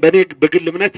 በእኔ በግል እምነት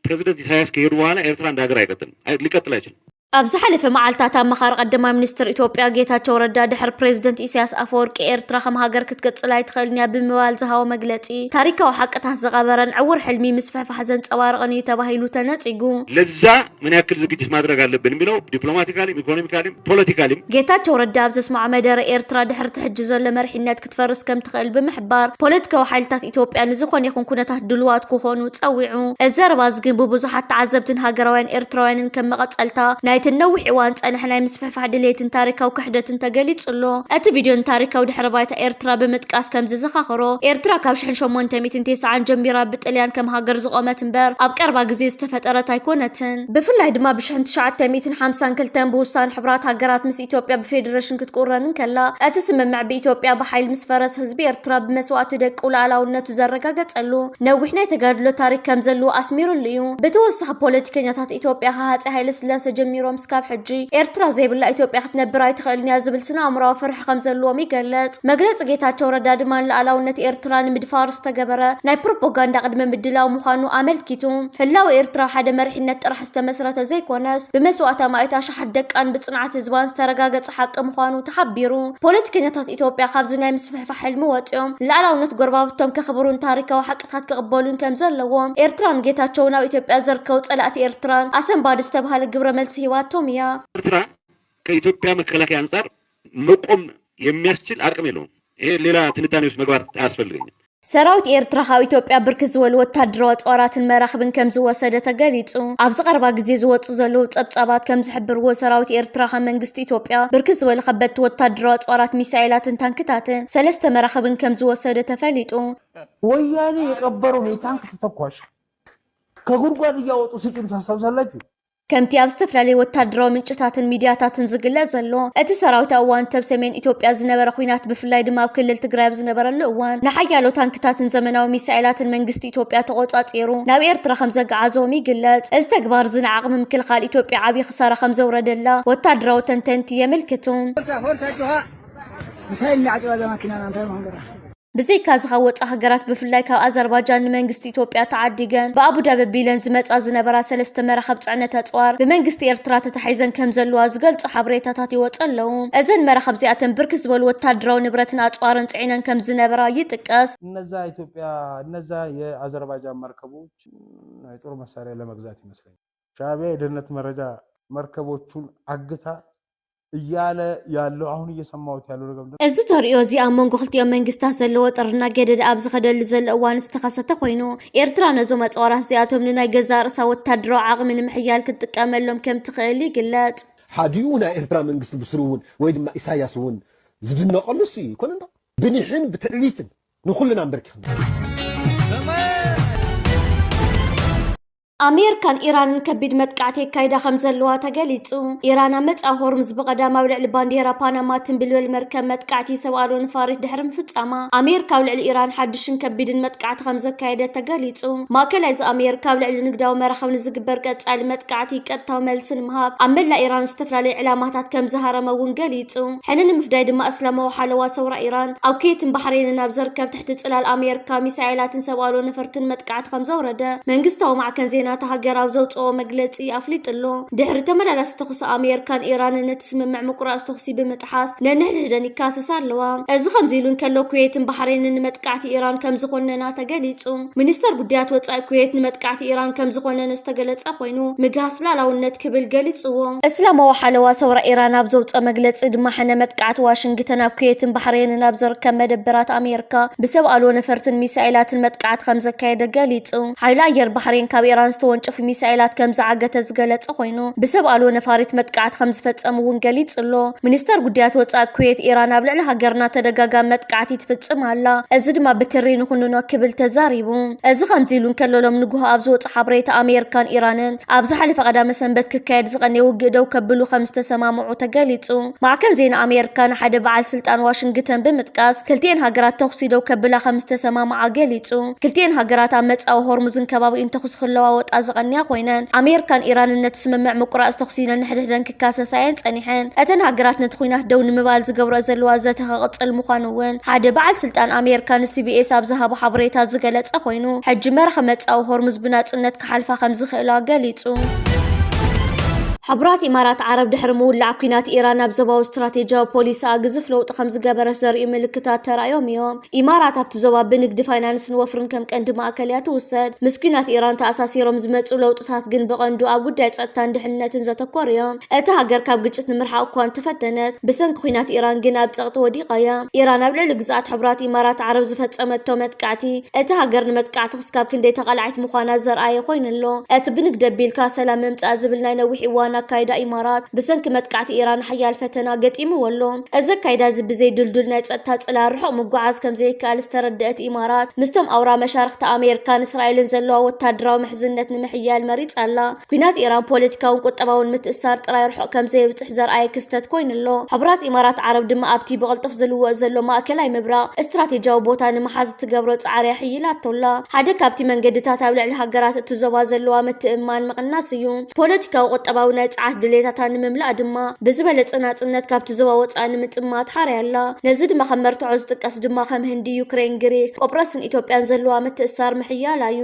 ፕሬዚደንት ኢሳያስ ከሄዱ በኋላ ኤርትራ እንደ ሀገር አይቀጥልም፣ ሊቀጥል አይችልም። ኣብ ዝሓለፈ መዓልታት ኣመኻሪ ቀዳማይ ሚኒስትር ኢትዮጵያ ጌታቸው ረዳ ድሕሪ ፕሬዚደንት ኢሳያስ ኣፈወርቂ ኤርትራ ከም ሃገር ክትቅፅል ኣይትኽእልን እያ ብምባል ዝሃቦ መግለፂ ዝገልጽ፣ ታሪካዊ ሓቅታት ዝቐበረን ዕዉር ሕልሚ ምስፍሕፋሕ ዘንጸባርቕን እዩ ተባሂሉ ተነጺጉ። ለዛ ምን ያክል ዝግጅት ማድረግ ኣለብን የሚለው ዲፕሎማቲካሊም ኢኮኖሚካሊም ፖለቲካሊም። ጌታቸው ረዳ ኣብ ዘስመዖ መደረ፣ ኤርትራ ድሕሪ እቲ ሕጂ ዘሎ መሪሕነት ክትፈርስ ከም ትኽእል ብምሕባር፣ ፖለቲካዊ ሓይልታት ኢትዮጵያ ንዝኾነ ይኹን ኩነታት ድሉዋት ክኾኑ ጸዊዑ። እዚ ዘረባ እዚ ግን ብብዙሓት ተዓዘብትን ሃገራውያን ኤርትራውያንን ከም መቐጸልታ ናይቲ ንነዊሕ እዋን ዝጸንሐ ናይ ምስፍሕፋሕ ምድፍፋሕ ድሌትን ታሪካዊ ክሕደትን ተገሊጹ ኣሎ። እቲ ቪድዮ ንታሪካዊ ድሕረ ባይታ ኤርትራ ብምጥቃስ ከም ዝዘኻኽሮ፣ ኤርትራ ካብ ሽሕን ሸሞንተ ሚእትን ቴስዓን ጀሚራ ብጥልያን ከም ሃገር ዝቖመት እምበር ኣብ ቀረባ ግዜ ዝተፈጠረት ኣይኮነትን። ብፍላይ ድማ ብሽሕን ትሽዓተ ሚእትን ሓምሳን ክልተን ብውሳነ ሕቡራት ሃገራት ምስ ኢትዮጵያ ብፌደረሽን ክትቁረን እንከላ፣ እቲ ስምምዕ ብኢትዮጵያ ብሓይሊ ምስ ፈረሰ ህዝቢ ኤርትራ ብመስዋእቲ ደቁ ልኣላውነቱ ዘረጋገጸሉ ነዊሕ ናይ ተጋድሎ ታሪክ ከም ዘለዎ ኣስሚርሉ እዩ። ብተወሳኺ ፖለቲከኛታት ኢትዮጵያ ካብ ሃጸይ ሃይለስላሰ ጀሚሮም ክሳብ ሕጂ ኤርትራ ዘይብላ ኢትዮጵያ ክትነብር ኣይትኽእልን እያ ዝብል ስነ-ኣእምሮኣዊ ፍርሒ ከምዘለዎም ይገልጽ። መግለጺ ጌታቸው ረዳ ድማ ንልኣላውነት ኤርትራ ንምድፋር ዝተገበረ ናይ ፕሮፖጋንዳ ቅድመ ምድላው ምዃኑ ኣመልኪቱ። ህላወ ኤርትራ ሓደ መሪሕነት ጥራሕ ዝተመስረተ ዘይኮነስ ብመስዋእቲ ኣማኢት ኣሽሓት ደቃን ብጽንዓት ህዝባን ዝተረጋገጸ ሓቂ ምዃኑ ተሓቢሩ። ፖለቲከኛታት ኢትዮጵያ ካብዚ ናይ ምስፍሕፋሕ ሕልሚ ወጺኦም ንልኣላውነት ጎረባብቶም ከኽብሩን ታሪካዊ ታት ክቕበሉን ከም ዘለዎም ኤርትራን ጌታቸውን ኣብ ኢትዮጵያ ዝርከቡ ፀላእቲ ኤርትራን ኣሰንባዲ ዝተብሃለ ግብረ መልሲ ሂባቶም እያ። ኤርትራ ከኢትዮጵያ መከላከያ ኣንፃር መቆም የሚያስችል ኣቅም የለውም ይሄ ሌላ ትንታኔ ውስጥ መግባት ኣያስፈልገኝም። ሰራዊት ኤርትራ ካብ ኢትዮጵያ ብርክት ዝበሉ ወታደራዊ ኣፅዋራትን መራኽብን ከምዝወሰደ ተገሊፁ። ኣብዚ ቀረባ ግዜ ዝወፅኡ ዘለዉ ፀብፃባት ከምዝሕብርዎ ሰራዊት ኤርትራ ካብ መንግስቲ ኢትዮጵያ ብርክት ዝበሉ ከበድቲ ወታደራዊ ኣፅዋራት ሚሳኤላትን ታንክታትን ሰለስተ መራኽብን ከምዝወሰደ ተፈሊጡ። ወያኔ የቀበረውን የታንክ ተተኳሽ ከጉድጓድ እያወጡ ሲጥም ታስታውሳላችሁ። ከምቲ ኣብ ዝተፈላለዩ ወታደራዊ ምንጭታትን ሚድያታትን ዝግለጽ ዘሎ እቲ ሰራዊት ኣብ እዋን ተብ ሰሜን ኢትዮጵያ ዝነበረ ኩናት ብፍላይ ድማ ኣብ ክልል ትግራይ ኣብ ዝነበረሉ እዋን ንሓያሎ ታንክታትን ዘመናዊ ሚሳኤላትን መንግስቲ ኢትዮጵያ ተቆጻጺሩ ናብ ኤርትራ ከም ዘገዓዞም ይግለጽ። እዚ ተግባር እዚ ንዓቕሚ ምክልኻል ኢትዮጵያ ዓብዪ ክሳራ ከም ዘውረደላ ወታደራዊ ተንተንቲ የመልክቱ። ብዘይካዚ ካብ ወፃእ ሃገራት ብፍላይ ካብ ኣዘርባጃን ንመንግስቲ ኢትዮጵያ ተዓዲገን ብኣቡዳቢ ኣቢለን ዝመፃ ዝነበራ ሰለስተ መራኽብ ፅዕነት ኣፅዋር ብመንግስቲ ኤርትራ ተታሒዘን ከምዘለዋ ዝገልፁ ሓበሬታታት ይወፁ ኣለው። እዘን መራኽብ እዚኣተን ብርክት ዝበሉ ወታደራዊ ንብረትን ኣፅዋርን ፅዒነን ከምዝነበራ ይጥቀስ። እነዛ ኢትዮጵያ እነዛ የኣዘርባጃን መርከቦች ናይ ጦር መሳሪያ ለመግዛት ይመስለኛል። ሻእቢያ የደህንነት መረጃ መርከቦቹን ዓግታ እያለ ያለው አሁን እየሰማሁት ያለው ነገር ምንድን ነው? እዚ ተርእዮ እዚ ኣብ መንጎ ክልቲኦም መንግስታት ዘለዎ ጥርና ገደደ ኣብ ዝኸደሉ ዘሎ እዋን ዝተኸሰተ ኮይኑ፣ ኤርትራ ነዞም ኣጽዋራት እዚኣቶም ንናይ ገዛእ ርእሳ ወተሃደራዊ ዓቕሚ ንምሕያል ክትጥቀመሎም ከም ትኽእል ይግለጽ። ሓዲኡ ናይ ኤርትራ መንግስቲ ብስሩ እውን ወይ ድማ ኢሳይያስ እውን ዝድነቐሉ እሱ እዩ። ኣይኮነንዶ? ብኒሕን ብትዕቢትን ንኹልና ኣምበርኪኽና። ኣሜርካን ኢራንን ከቢድ መጥቃዕቲ የካይዳ ከም ዘለዋ ተገሊጹ። ኢራን ኣብ መጻኢ ሆርሙዝ ብቐዳም ኣብ ልዕሊ ባንዴራ ፓናማ እትንብልብል መርከብ መጥቃዕቲ ሰብ ኣልቦ ነፋሪት ድሕሪ ምፍጻማ፣ ኣሜርካ ኣብ ልዕሊ ኢራን ሓድሽን ከቢድን መጥቃዕቲ ከም ዘካየደት ተገሊጹ። ማእከላይ እዚ ኣሜርካ ኣብ ልዕሊ ንግዳዊ መራኽብ ንዝግበር ቀጻሊ መጥቃዕቲ ቀጥታዊ መልሲ ንምሃብ ኣብ መላእ ኢራን ዝተፈላለዩ ዕላማታት ከም ዝሃረመ እውን ገሊጹ። ሕነ ንምፍዳይ ድማ እስላማዊ ሓለዋ ሰውራ ኢራን ኣብ ኩዌትን ባሕሬንን ኣብ ዘርከብት እቲ ጽላል ኣሜርካ ሚሳኤላትን ሰብ ኣልቦ ነፈርትን መጥቃዕቲ ከምዘውረደ መንግስታዊ ማዕከን ዜና እታ ሃገር ኣብ ዘውጽኦ መግለጺ ኣፍሊጡ'ሎ። ድሕሪ ተመላላሲ ተኹሲ ኣሜርካን ኢራንን ነቲ ስምምዕ ምቁራጽ ተኹሲ ብምጥሓስ ነንሕድሕደን ይካሰሳ ኣለዋ። እዚ ከምዚ'ሉ እንከሎ ኩዌትን ባሕሬንን ንመጥቃዕቲ ኢራን ከምዝኾነና ተገሊጹ። ሚኒስተር ጉዳያት ወጻኢ ኩዌት ንመጥቃዕቲ ኢራን ከምዝኾነነ ዝተገለጸ ኮይኑ፣ ኮይኑ ምግሃስ ላላውነት ክብል ገሊጽዎ። እስላማዊ ሓለዋ ሰውራ ኢራን ኣብ ዘውጸ መግለጺ ድማ ሕነ መጥቃዕቲ ዋሽንግተን ኣብ ኩዌትን ባሕሬንን ኣብ ዝርከብ መደበራት ኣሜርካ ብሰብ ኣልቦ ነፈርትን ሚሳኤላትን መጥቃዕቲ ከምዘካየደ ገሊጹ። ሓይሊ ኣየር ባሕሬን ካብ ኢራን ዝተወንጨፉ ሚሳኤላት ከምዝዓገተ ዝገለጸ ኮይኑ ብሰብ ኣልቦ ነፋሪት መጥቃዕቲ ከምዝፈጸሙ እውን ገሊጹ'ሎ። ሚኒስተር ጉዳያት ወጻኢ ኩዌት ኢራን ኣብ ልዕሊ ሃገርና ተደጋጋሚ መጥቃዕቲ ትፍጽም ኣላ፣ እዚ ድማ ብትሪ ንኹንኖ ክብል ተዛሪቡ። እዚ ከምዚ ኢሉ እንከሎ ሎም ንጉሆ ኣብ ዝወጸ ምንጪ ሓበሬታ ኣሜሪካን ኢራንን ኣብ ዝሓለፈ ቀዳመ ሰንበት ክካየድ ዝቐነየ ውግእ ደው ከብሉ ከም ዝተሰማምዑ ተገሊጹ። ማዕከን ዜና ኣሜሪካ ንሓደ በዓል ስልጣን ዋሽንግተን ብምጥቃስ ክልቲኤን ሃገራት ተኹሲ ደው ከብላ ከም ዝተሰማምዓ ገሊጹ። ክልቲኤን ሃገራት ኣብ መጻኢ ሆርሙዝን ከባቢኡን ተኹሲ ክለዋወጣ ዝቐንያ ኮይነን ኣሜሪካን ኢራንን ነቲ ስምምዕ ምቁራጽ ተኹሲ ነንሕድሕደን ከሰሳየን ጸኒሐን። እተን ሃገራት ነቲ ኲናት ደው ንምባል ዝገብረኦ ዘለዋ ዘተ ክቕጽል ምዃኑ'ውን ሓደ በዓል ስልጣን ኣሜርካ ንሲቢኤስ ኣብ ዝሃቦ ሓበሬታ ዝገለጸ ኮይኑ፣ ሕጂ መራኺ መጻኢ ሆርሙዝ ብናጽነት ክሓልፋ ከም ዝኽእላ ገሊጹ። ሕቡራት ኢማራት ዓረብ ድሕሪ ምውላዕ ኲናት ኢራን ኣብ ዞባዊ ስትራቴጂያዊ ፖሊሲኣ ግዙፍ ለውጢ ከም ዝገበረት ዘርእዩ ምልክታት ተራእዮም እዮም። ኢማራት ኣብቲ ዞባ ብንግዲ፣ ፋይናንስን ወፍርን ከም ቀንዲ ማእከል እያ ትውሰድ። ምስ ኲናት ኢራን ተኣሳሲሮም ዝመጽኡ ለውጥታት ግን ብቐንዱ ኣብ ጉዳይ ጸጥታን ድሕንነትን ዘተኮሩ እዮም። እታ ሃገር ካብ ግጭት ንምርሓቕ እኳ እንተፈተነት፣ ብሰንኪ ኲናት ኢራን ግን ኣብ ጸቕጢ ወዲቓ እያ። ኢራን ኣብ ልዕሊ ግዝኣት ሕቡራት ኢማራት ዓረብ ዝፈጸመቶ መጥቃዕቲ፣ እታ ሃገር ንመጥቃዕቲ ክስካብ ክንደይ ተቓላዒት ምዃና ዘርኣየ ኮይኑ ኣሎ። እቲ ብንግዲ ኣቢልካ ሰላም ምምጻእ ዝብል ናይ ነዊሕ እዋን ኣካይዳ ኢማራት፣ ብሰንኪ መጥቃዕቲ ኢራን ሓያል ፈተና ገጢምዎ ኣሎ። እዚ ኣካይዳ'ዚ ብዘይ ድልዱል ናይ ጸጥታ ጽላል ርሑቕ ምጉዓዝ ከም ዘይከኣል ዝተረድኣት ኢማራት፣ ምስቶም ኣውራ መሻርኽታ ኣሜርካን እስራኤልን ዘለዋ ወተሃደራዊ ምሕዝነት ንምሕያል መሪጻ ኣላ። ኲናት ኢራን ፖለቲካውን ቁጠባውን ምትእስሳር ጥራይ ርሑቕ ከም ዘየብጽሕ ዘርኣየ ክስተት ኮይኑ ኣሎ። ሕቡራት ኢማራት ዓረብ ድማ ኣብቲ ብቕልጡፍ ዝልወጥ ዘሎ ማእከላይ ምብራቕ እስትራቴጂያዊ ቦታ ንምሓዝ እትገብሮ ጻዕሪ ኣሐይላቶ ኣላ። ሓደ ካብቲ መንገድታት ኣብ ልዕሊ ሃገራት እቲ ዞባ ዘለዋ ምትእምማን ምቕናስ እዩ። ፖለቲካዊ ቁጠባዊ ናይ ጸዓት ድሌታታ ንምምላእ ድማ ብዝበለጸ ናጽነት ካብቲ ዞባ ወጻኢ ንምጥማት ሓርያ ኣላ። ነዚ ድማ ከም መርትዖ ዝጥቀስ ድማ ከም ህንዲ፣ ዩክሬን፣ ግሪክ፣ ቆጵሮስን ኢትዮጵያን ዘለዋ ምትእስሳር ምሕያላ እዩ።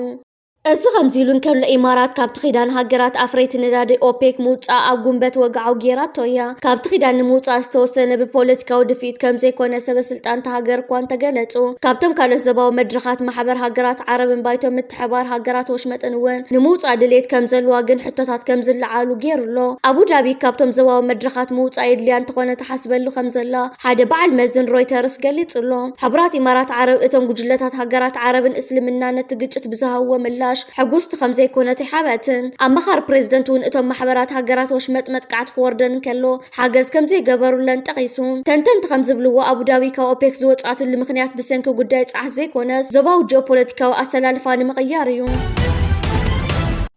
እዚ ከምዚ ኢሉ እንከሎ ኢማራት ካብቲ ኪዳን ሃገራት ኣፍረይቲ ነዳዲ ኦፔክ ምውጻኣ ኣብ ጉንበት ወግዓዊ ገይራቶ እያ። ካብቲ ኪዳን ንምውጻእ ዝተወሰነ ብፖለቲካዊ ድፍኢት ከም ዘይኮነ ሰበስልጣን እታ ሃገር እኳ እንተገለጹ ካብቶም ካልኦት ዞባዊ መድረኻት ማሕበር ሃገራት ዓረብን ባይቶ ሓባር ሃገራት ወሽመጥን እውን ንምውፃእ ድሌት ከምዘለዋ ግን ሕቶታት ከምዝለዓሉ ገይሩ ኣሎ። ኣቡዳቢ ካብቶም ዞባዊ መድረኻት ምውፃእ የድልያ እንተኾነ ትሓስበሉ ከምዘላ ሓደ በዓል መዚ ንሮይተርስ ገሊፁ ኣሎ። ሕቡራት ኢማራት ዓረብ እቶም ጉጅለታት ሃገራት ዓረብን እስልምናን ነቲ ግጭት ብዝሃብዎ ምላሽ ሕጉስቲ ከምዘይኮነት ኣይሓብኣትን። ኣማኻሪ ፕሬዝደንት እውን እቶም ማሕበራት ሃገራት ወሽመጥ መጥቃዕቲ ክወርደን እንከሎ ሓገዝ ከምዘይገበሩለን ጠቒሱ። ተንተንቲ ከምዝብልዎ፣ ኣቡዳቢ ካብ ኦፔክ ዝወጽኣትሉ ምኽንያት ብሰንኪ ጉዳይ ጸዓት ዘይኮነስ፣ ዞባዊ ጂኦፖለቲካዊ ኣሰላልፋ ንምቕያር እዩ።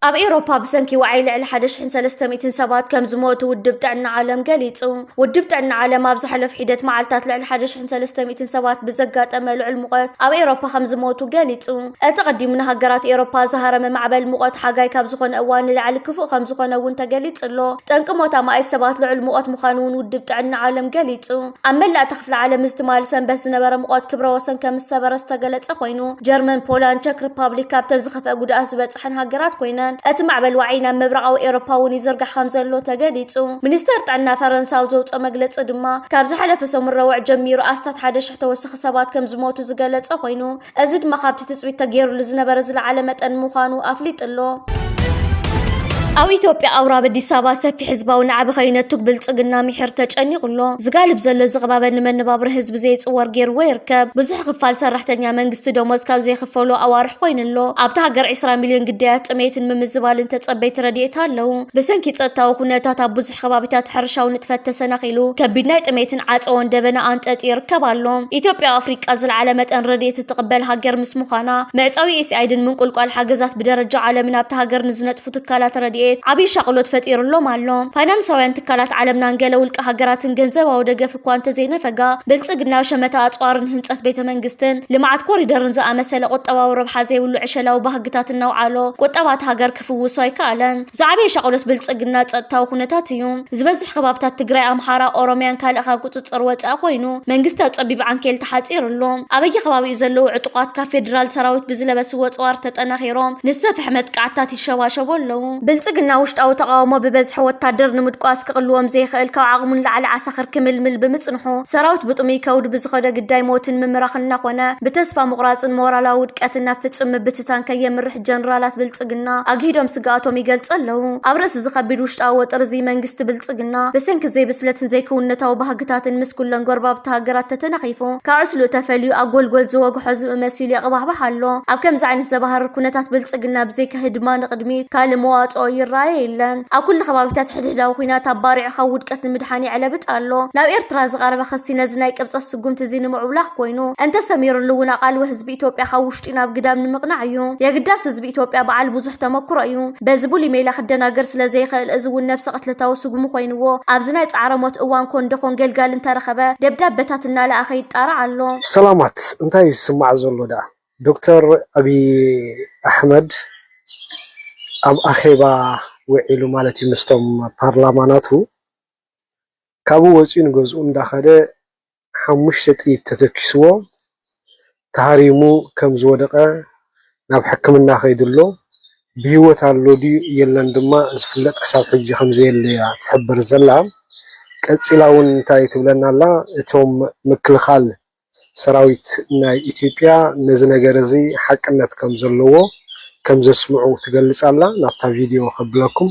ኣብ ኤውሮፓ ብሰንኪ ዋዒ ልዕሊ ሓደ ሽሕን ሰለስተ ሚእትን ሰባት ከም ዝሞቱ ውድብ ጥዕና ዓለም ገሊጹ። ውድብ ጥዕና ዓለም ኣብ ዝሓለፉ ሒደት መዓልታት ልዕሊ ሓደ ሽሕን ሰለስተ ሚእትን ሰባት ብዘጋጠመ ልዑል ሙቐት ኣብ ኤውሮፓ ከም ዝሞቱ ገሊጹ። እቲ ቐዲሙ ንሃገራት ኤውሮፓ ዝሃረመ ማዕበል ሙቐት ሓጋይ ካብ ዝኾነ እዋን ንላዕሊ ክፉእ ከምዝኾነ እውን ተገሊፁ ኣሎ። ጠንቂ ሞት ኣማኢት ሰባት ልዑል ሙቐት ምዃኑ እውን ውድብ ጥዕና ዓለም ገሊፁ። ኣብ መላእ እታ ክፍለ ዓለም እዚ ትማሊ ሰንበት ዝነበረ ሙቐት ክብረ ወሰን ከምዝሰበረ ዝተገለፀ ኮይኑ፣ ጀርመን፣ ፖላንድ፣ ቸክ ሪፓብሊክ ካብተን ዝኸፍኣ ጉድኣት ዝበፀሐን ሃገራት ኮይነን እቲ ማዕበል ዋዒ ናብ ምብራቓዊ ኤውሮፓ እውን ይዝርጋሕ ከምዘሎ ተገሊፁ። ሚኒስተር ጥዕና ፈረንሳ ኣብ ዘውፅኦ መግለፂ ድማ ካብ ዝሓለፈ ሰሙን ረቡዕ ጀሚሩ ኣስታት ሓደ ሽሕ ተወሳኺ ሰባት ከምዝሞቱ ዝገለፀ ኮይኑ፣ እዚ ድማ ካብቲ ትፅቢት ተገይሩሉ ዝነበረ ዝለዓለ መጠን ምዃኑ ኣፍሊጡ ኣሎ። ኣብ ኢትዮጵያ ኣውራብ ኣዲስ ኣበባ ሰፊሕ ህዝባዊ ናዕቢ ከይነቱግ ብልፅግና ሚሒር ተጨኒቑ ኣሎ። ዝጋልብ ዘሎ እዚ ቅባበ ንመነባብሮ ህዝቢ ዘይፅወር ገይርዎ ይርከብ። ብዙሕ ክፋል ሰራሕተኛ መንግስቲ ደሞዝ ካብ ዘይኽፈሎ ኣዋርሕ ኮይኑ ኣሎ። ኣብታ ሃገር ዒስራ ሚልዮን ግዳያት ጥሜትን ምምዝባልን ተፀበይቲ ረድኤት ኣለዉ። ብሰንኪ ፀጥታዊ ኩነታት ኣብ ብዙሕ እቲ ከባቢታት ሕርሻዊ ንጥፈት ተሰናኺሉ፣ ከቢድ ናይ ጥሜትን ዓጸዎን ደበና ኣንጠጥዩ ይርከብ ኣሎ። ኢትዮጵያ ኣብ ኣፍሪቃ ዝለዓለ መጠን ረድኤት እትቕበል ሃገር ምስ ምዃና፣ መዕጸዊ ዩኤስኤኣይድን ምንቁልቋል ሓገዛት ብደረጃ ዓለምን ኣብታ ሃገር ንዝነጥፉ ትካላት ረድኤት ዓብዪ ሻቕሎት ፈጢሩሎም ኣሎ። ፋይናንሳውያን ትካላት ዓለምናን ገለ ውልቀ ሃገራትን ገንዘባዊ ደገፍ እኳ እንተዘይነፈጋ፣ ብልጽግና ሸመታ ኣጽዋርን ህንጸት ቤተ መንግስትን ልምዓት ኮሪደርን ዝኣመሰለ ቁጠባዊ ረብሓ ዘይብሉ ዕሸላዊ ባህግታት እናውዓሎ ቁጠባ እታ ሃገር ክፍውሶ ኣይከኣለን። ዝዓበየ ሻቕሎት ብልፅግና ፀጥታዊ ኩነታት እዩ። ዝበዝሕ ከባብታት ትግራይ፣ ኣምሓራ፣ ኦሮሚያን ካልእ ካብ ቁፅፅር ወፃኢ ኮይኑ መንግስቲ ኣብ ፀቢብ ዓንኬል ተሓፂሩ ኣሎ። ኣብ በየከባቢኡ ዘለዉ ዕጡቓት ካብ ፌዴራል ሰራዊት ብዝለበስዎ ኣፅዋር ተጠናኺሮም ንዝሰፍሐ መጥቃዕትታት ይሸባሸቡ ኣለዉ። ብልፅግና ውሽጣዊ ተቓውሞ ብበዝሒ ወታደር ንምድቋስ ክቕልዎም ዘይኽእል ካብ ዓቕሙ ንላዕሊ ዓሳኽር ክምልምል ብምፅንሑ ሰራዊት ብጥሙይ ከውዲ ብዝኸዶ ግዳይ ሞትን ምምራኽን እናኾነ ብተስፋ ምቑራፅን ሞራላዊ ውድቀትን ናብ ፍፁም ምብትታን ከየምርሕ ጀነራላት ብልጽግና ኣግሂዶም ስግኣቶም ይገልጹ ኣለዉ። ኣብ ርእሲ'ዚ ከቢድ ውሽጣዊ ወጥሪ'ዚ፣ መንግስቲ ብልጽግና ብሰንኪ ዘይብስለትን ዘይክውንነታዊ ባህግታትን ምስ ኩለን ጎረባብቲ ሃገራት ተተናኺፉ፣ ካብ ዕስለኡ ተፈልዩ ኣብ ጎልጎል ዝወግሖ ዝብኢ መሲሉ የቕባሕባሕ ኣሎ። ኣብ ከምዚ ዓይነት ዘባህርር ኩነታት ብልጽግና ብዘይካ ህድማ ንቕድሚት ካልእ መዋጽኦ ይረኣዮ የለን። ኣብ ኩሉ ከባቢታት ሕድሕዳዊ ኩናት ኣባሪዑ ካብ ውድቀት ንምድሓን የዕለብጥ ኣሎ። ናብ ኤርትራ ዝቐረበ ክሲ ነዚ ናይ ቅብጸት ስጉምቲ'ዚ ንምዕብላኽ ኮይኑ፣ እንተሰሚርሉ'ውን ኣቓልቦ ህዝቢ ኢትዮጵያ ካብ ውሽጡ ውሽጢ ናብ ግዳም ንምቕናዕ እዩ። የግዳስ ህዝቢ ኢትዮጵያ በዓል ብዙሕ ተመኩሮ እዩ። በዚ ብሉይ ሜላ ክደናገር ስለ ዘይኸእል እዚ እውን ነብሰ ቅትለታዊ ስጉሚ ኮይንዎ ኣብዚ ናይ ጻዕረ ሞት እዋን ኮን ደኾን ገልጋሊ እንተረኸበ ደብዳበታት እናለኣኸ ይጣራዕ ኣሎ። ሰላማት እንታይ እዩ ዝስማዕ ዘሎ ደኣ? ዶክተር ኣብይ ኣሕመድ ኣብ ኣኼባ ውዒሉ ማለት እዩ ምስቶም ፓርላማ ናቱ ካብኡ ወጺኡ ንገዝኡ እንዳኸደ ሓሙሽተ ጥይት ተተኲስዎ ተሃሪሙ ከም ዝወደቐ ናብ ሕክምና ከይዱ'ሎ። ብህይወት ኣሎ ድዩ የለን ድማ ዝፍለጥ ክሳብ ሕጂ ከም ዘየለ'ያ ትሕብር ዘላ። ቀጺላ'ውን እንታይ ትብለና ኣላ፣ እቶም ምክልኻል ሰራዊት ናይ ኢትዮጵያ ነዚ ነገር'ዚ ሓቅነት ከም ዘለዎ ከም ዘስምዑ ትገልጽ ኣላ። ናብታ ቪድዮ ከብለኩም።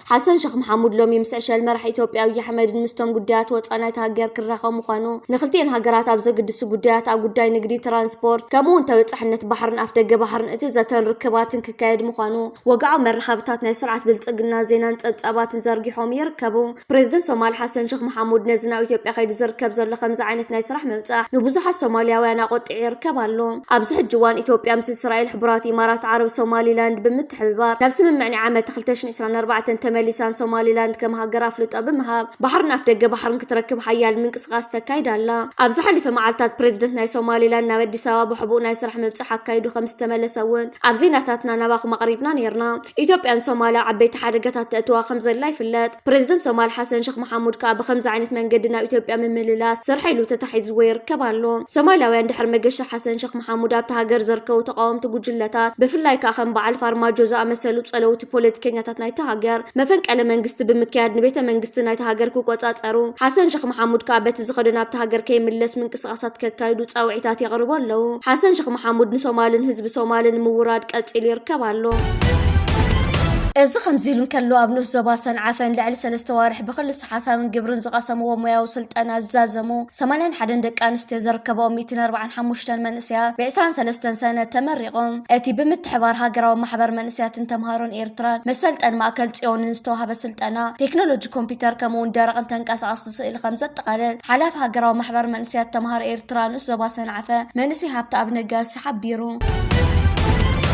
ሓሰን ሸኽ መሓሙድ ሎሚ ምስ ዕሸል መራሒ ኢትዮጵያ ኣብዪ ኣሕመድን ምስቶም ጉዳያት ወፃኢ ናይታ ሃገር ክራኸብ ምዃኑ ንክልቲኤን ሃገራት ኣብ ዘግድሱ ጉዳያት ኣብ ጉዳይ ንግዲ፣ ትራንስፖርት ከምኡ እውን ተበፃሕነት ባሕርን ኣፍደገ ባሕርን እቲ ዘተን ርክባትን ክካየድ ምዃኑ ወግዓዊ መራኸብታት ናይ ስርዓት ብልፅግና ዜናን ፀብፃባትን ዘርጊሖም ይርከቡ። ፕሬዝደንት ሶማል ሓሰን ሸኽ መሓሙድ ነዚ ናብ ኢትዮጵያ ከይዱ ዝርከብ ዘሎ ከምዚ ዓይነት ናይ ስራሕ ምብፃሕ ንብዙሓት ሶማሊያውያን ኣቖጢዑ ይርከብ ኣሎ። ኣብዚ ሕጂ እዋን ኢትዮጵያ ምስ እስራኤል፣ ሕቡራት ኢማራት ዓረብ፣ ሶማሊላንድ ብምት። ብምትሕብባር ናብ ስምምዕ ናይ ዓመተ ክልተ ሽሕ ዕስራን ኣርባዕተን ተመሊሳን ሶማሊላንድ ከም ሃገር ኣፍልጦ ብምሃብ ባሕርን ኣፍደገ ባሕርን ክትረክብ ሓያል ምንቅስቓስ ተካይድ ኣላ። ኣብ ዝሓለፈ መዓልታት ፕረዚደንት ናይ ሶማሊላንድ ናብ ኣዲስ ኣበባ ብሕቡእ ናይ ስራሕ ምብጻሕ ኣካይዱ ከም ዝተመለሰ እውን ኣብ ዜናታትና ናባኹም ኣቕሪብና ነይርና። ኢትዮጵያ ንሶማል ኣብ ዓበይቲ ሓደጋታት ተእትዋ ከም ዘላ ይፍለጥ። ፕረዚደንት ሶማል ሓሰን ሸኽ መሓሙድ ከኣ ብኸምዚ ዓይነት መንገዲ ናብ ኢትዮጵያ ምምልላስ ስርሐይ ኢሉ ተታሒዝዎ ይርከብ ኣሎ። ሶማላውያን ድሕሪ መገሻ ሓሰን ሸኽ መሓሙድ ኣብታ ሃገር ዘርከቡ ተቓወምቲ ጉጅለታት ብፍላይ ከኣ ከም በዓል ፋርማጆ ዝኣመሰሉ ጸለውቲ ፖለቲከኛታት ናይታ ሃገር መፈንቀለ መንግስቲ ብምክያድ ንቤተ መንግስቲ ናይታ ሃገር ክቆጻጸሩ ሓሰን ሸኽ መሓሙድ ከኣ በቲ ዝኸዶ ናብታ ሃገር ከይምለስ ምንቅስቓሳት ከካይዱ ጻውዒታት የቕርቡ ኣለዉ። ሓሰን ሸኽ መሓሙድ ንሶማልን ህዝቢ ሶማልን ምውራድ ቀጺሉ ይርከብ ኣሎ። እዚ ከምዚ ኢሉ እንከሎ ኣብ ንኡስ ዞባ ሰንዓፈን ልዕሊ ሰለስተ ኣዋርሕ ብክልሰ ሓሳብን ግብርን ዝቐሰምዎ ሞያዊ ስልጠና ዝዛዘሙ ሰማንያን ሓደን ደቂ ኣንስትዮ ዝርከበኦም ሚእትን ኣርብዓን ሓሙሽተን መንእሰያት ብ ዕስራን ሰለስተን ሰነ ተመሪቖም። እቲ ብምትሕብባር ሃገራዊ ማሕበር መንእሰያትን ተምሃሮን ኤርትራን መሰልጠኒ ማእከል ጽዮንን ዝተዋህበ ስልጠና፣ ቴክኖሎጂ ኮምፒተር ከምኡ'ውን ደረቕን ተንቀሳቐስቲ ስእሊ ከምዘጠቓልል ሓላፊ ሃገራዊ ማሕበር መንእሰያት ተምሃሮ ኤርትራ ንኡስ ዞባ ሰንዓፈ መንእሰይ ሃብተኣብ ነጋሲ ተሓቢሩ።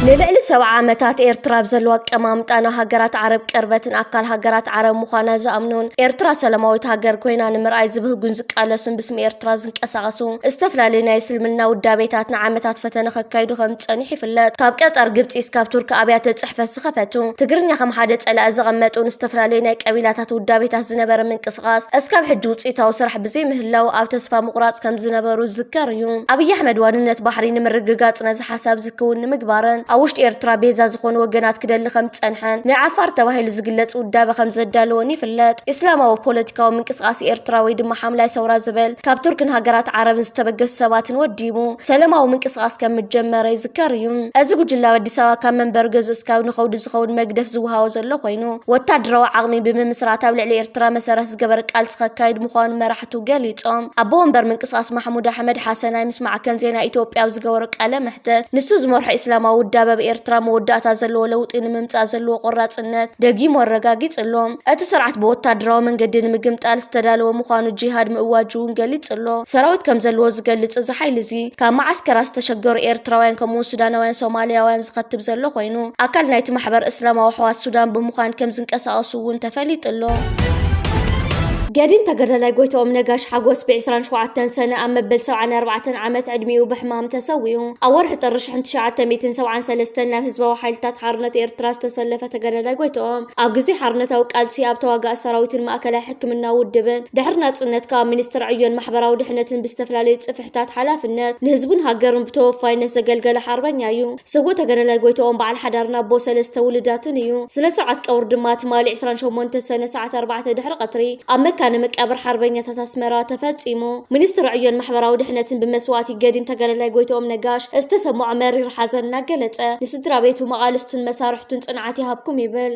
ንልዕሊ ሰብዓ ዓመታት ኤርትራ ኣብ ዘለዋ ኣቀማምጣ ንሃገራት ዓረብ ቅርበትን ኣካል ሃገራት ዓረብ ምዃና ዝኣምኑን ኤርትራ ሰላማዊት ሃገር ኮይና ንምርኣይ ዝብህጉን ዝቃለሱን ብስም ኤርትራ ዝንቀሳቐሱ ዝተፈላለዩ ናይ እስልምና ውዳቤታት ንዓመታት ፈተነ ከካይዱ ከም ዝጸኒሑ ይፍለጥ። ካብ ቀጠር፣ ግብጺ እስካብ ቱርኪ ኣብያተ ጽሕፈት ዝኸፈቱ፣ ትግርኛ ከም ሓደ ጸላኢ ዘቐመጡን ዝተፈላለዩ ናይ ቀቢላታት ውዳቤታት ዝነበረ ምንቅስቓስ እስካብ ሕጂ ውጽኢታዊ ስራሕ ዘይምህላው ኣብ ተስፋ ምቑራጽ ከም ዝነበሩ ዝዝከር እዩ። ኣብይ ኣሕመድ ዋንነት ባሕሪ ንምርግጋጽ ነዚ ሓሳብ እዚ ክውን ንምግባርን ኣብ ውሽጢ ኤርትራ ቤዛ ዝኾኑ ወገናት ክደሊ ከም ዝጸንሐን ናይ ዓፋር ተባሂሉ ዝግለጽ ውዳበ ከም ዘዳለወን ይፍለጥ። እስላማዊ ፖለቲካዊ ምንቅስቓስ ኤርትራ ወይ ድማ ሓምላይ ሰውራ ዝብል ካብ ቱርክን ሃገራት ዓረብን ዝተበገሱ ሰባትን ወዲቡ ሰለማዊ ምንቅስቓስ ከም ምጀመረ ይዝከር እዩ። እዚ ጉጅለ ኣብ ኣዲስ ኣበባ ካብ መንበሪ ገዝኡ እስካብ ንኸውዲ ዝኸውን መግደፍ ዝወሃቦ ዘሎ ኮይኑ ወታደራዊ ዓቕሚ ብምምስራት ኣብ ልዕሊ ኤርትራ መሰረት ዝገበር ቃልሲ ከካይድ ምዃኑ መራሕቱ ገሊጾም። ኣቦ ወንበር ምንቅስቓስ ማሕሙድ ኣሕመድ ሓሰናይ ምስ ማዕከን ዜና ኢትዮጵያ ኣብ ዝገበሮ ቃለ መሕተት፣ ንሱ ዝመርሖ ኢስላማዊ ውዳበ ኣብ ኤርትራ መወዳእታ ዘለዎ ለውጢ ንምምጻእ ዘለዎ ቆራጽነት ደጊሙ ኣረጋጊጹ ኣሎ። እቲ ስርዓት ብወታደራዊ መንገዲ ንምግምጣል ዝተዳለወ ምዃኑ ጂሃድ ምእዋጁ'ውን ገሊጹ ኣሎ። ሰራዊት ከም ዘለዎ ዝገልጽ እዚ ሓይሊ'ዚ፣ ካብ መዓስከራት ዝተሸገሩ ኤርትራውያን ከምኡ'ውን ሱዳናውያን ሶማልያውያን ዝኸትብ ዘሎ ኮይኑ፣ ኣካል ናይቲ ማሕበር እስላማዊ ኣሕዋት ሱዳን ብምዃን ከም ዝንቀሳቐሱ፣ እውን ተፈሊጡ ኣሎ። ገዲም ተገዳላይ ጎይትኦም ነጋሽ ሓጎስ ብ27 ሰነ ኣብ መበል 74 ዓመት ዕድሚኡ ብሕማም ተሰዊኡ። ኣብ ወርሒ ጥሪ 1973 ናብ ህዝባዊ ሓይልታት ሓርነት ኤርትራ ዝተሰለፈ ተገዳላይ ጎይትኦም ኣብ ግዜ ሓርነታዊ ቃልሲ ኣብ ተዋጋኢ ሰራዊትን ማእከላይ ሕክምና ውድብን ድሕሪ ናጽነት ከኣ ሚኒስትር ዕዮን ማሕበራዊ ድሕነትን ብዝተፈላለዩ ጽፍሒ ሕታት ሓላፍነት ንህዝቡን ሃገሩን ብተወፋይነት ዘገልገለ ሓርበኛ እዩ። ስውእ ተገዳላይ ጎይትኦም በዓል ሓዳርን ኣቦ ሰለስተ ውሉዳትን እዩ። ስነ ስርዓት ቀብሩ ድማ ትማሊ ዕስራን ሸሞንተን ሰነ ሰዓት ኣርባዕተ ድሕሪ ቀትሪ ኣብ መካነ መቃብር ሓርበኛታት ኣስመራ ተፈጺሙ። ሚኒስትሪ ዕዮን ማሕበራዊ ድሕነትን ብመስዋእቲ ገዲም ተጋዳላይ ጎይትኦም ነጋሽ ዝተሰምዖ መሪር ሓዘን እናገለጸ ንስድራቤቱ፣ መቓልስቱን መሳርሕቱን ጽንዓት ይሃብኩም ይብል።